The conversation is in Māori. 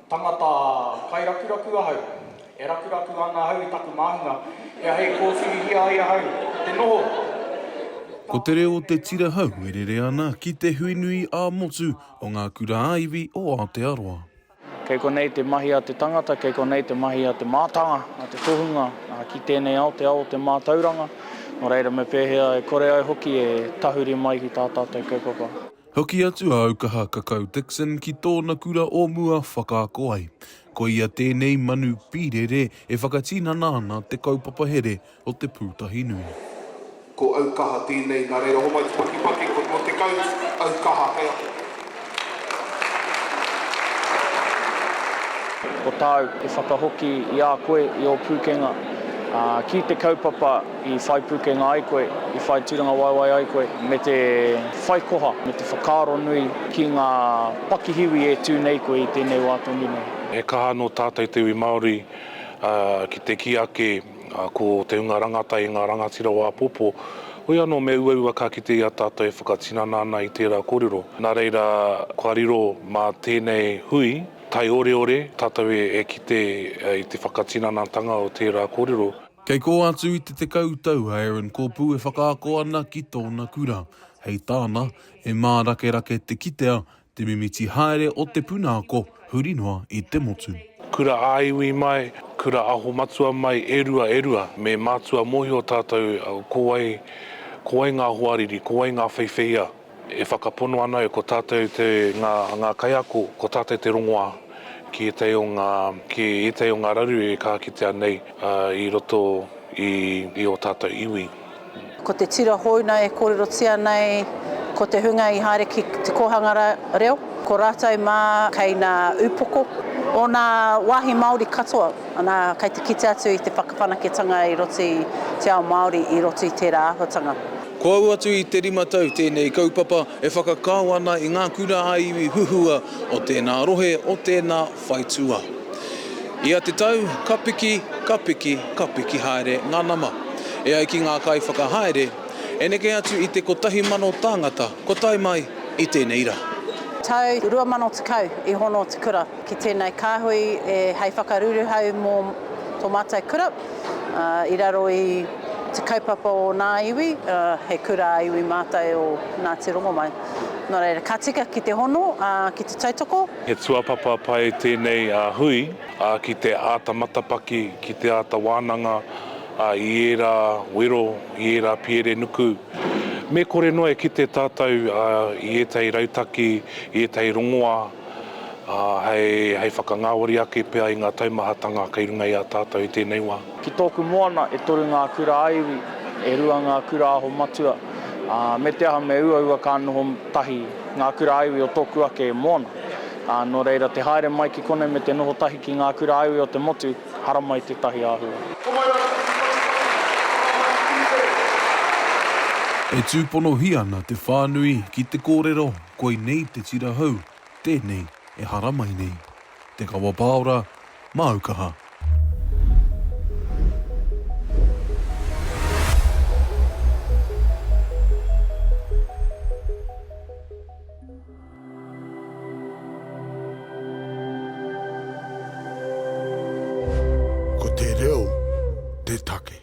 Tangata kairakuraku ahau. E rakuraku ana ahau i taku māhunga kia hei kōwhirihia ai ahau ki te noho. Ko te reo o te tira hau e rere ana ki te hui nui ā-motu o ngā kura ā-iwi o Aotearoa. Kei konei te mahi a te tangata, kei konei te mahi a te mātanga, a te tohunga, ā, ki tēnei ao, te ao o te mātauranga, nō reira me pēhea e kore ai hoki e tahuri mai ki tā tātou kaupapa. Hoki atu a Aukaha Kakau Dixon ki tōna kura o mua whakaako ai. Ko ia tēnei manu pīrere e whakatinana ana te kaupapa here o Te Pūtahinui. Ko Aukaha tēnei, nā reira homai te pakipaki, ko tō Te Kau, Aukaha, kei a koe. Ko tāu, e whakahoki i a koe, i ō pūkenga, ā, ki te kaupapa. I whai pūkenga ai koe, i whai tūrangawaewae ai koe me te whai koha, me te whakaaro nui ki ngā pakihiwi e tū nei koe i tēnei wā tonu nei. He kaha nō tātou te iwi Māori ki te kī ake ko te hunga rangatahi ngā rangatira o āpōpō. Hoi anō me uaua ka kite i a tātou e whakatinana ana i tērā kōrero. Nā reira, kua riro mā tēnei hui taioreore tātou e kite i te whakatinanatanga o tērā kōrero. Kei kō atu i te tekau tau a Aaron Kopu e whakaako ana ki tōna kura. Hei tāna, he mārakerake te kitea, te mimiti haere o te puna ako huri noa i te motu. Kura ā-iwi mai, kura aho matua mai e rua e rua. Me mātua mōhio tātou ko wai, ko wai ngā hoariri, ko wai ngā wheiwheiā. E whakapono ana e ko tātou te, ngā, ngā kaiako, ko tātou te rongoā ki ētahi o ngā, ki ētahi o ngā raru e kaha kitea nei i roto i, i ō tātou iwi. Ko te tira houna e kōrerotia nei, ko te hunga i haere ki te kōhanga reo, ko rātou mā kei nā upoko o nā wāhi Māori katoa, ana, kei te kite atu i te whakawhanaketanga i roto i te ao Māori, i roto i tērā āhuatanga. Ko au atu i te rima tau tēnei kaupapa e whakakao ana i ngā kura ā-iwi huhua o tēnā rohe, o tēnā whaitua. Ia te tau, ka piki, ka piki, ka piki haere ngā nama. E ai ki ngā kaiwhakahaere, e neke atu i te kotahi mano tāngata kua tae mai i tēnei rā. Tau 2010 i hono te kura ki tēnei kāhui hei whakaruruhau mō tō mātou kura. i raro i te kaupapa o ōna iwi, he kura ā-iwi mātai o Ngāti Rongomai. Nō reira, ka tika ki te hono, ki te tautoko. He tuapapa pai tēnei hui ki te āta matapaki, ki te āta wānanga i ērā wero, i ērā piere nuku. Me kore noa e kite tātou i ētahi rautaki, i ētahi rongoā. ā, hei whakangāwari ake pea i ngā taumahatanga kei runga i a tātou i tēnei wā. Ki tōku moana, e toru ngā kura a iwi, e rua ngā kura aho matua, ā, me te aha me uaua ka noho tahi ngā kura a iwi o tōku ake moana. Ā, nō reira, te haere mai ki konei me te noho tahi ki ngā kura a iwi o te motu, haramai tētahi āhua. E tūponohia ana te whānui ki te kōrero Koinei te tira hou, tēnei e haramai nei. Te Kawapāora, māu kaha. Ko te reo te take.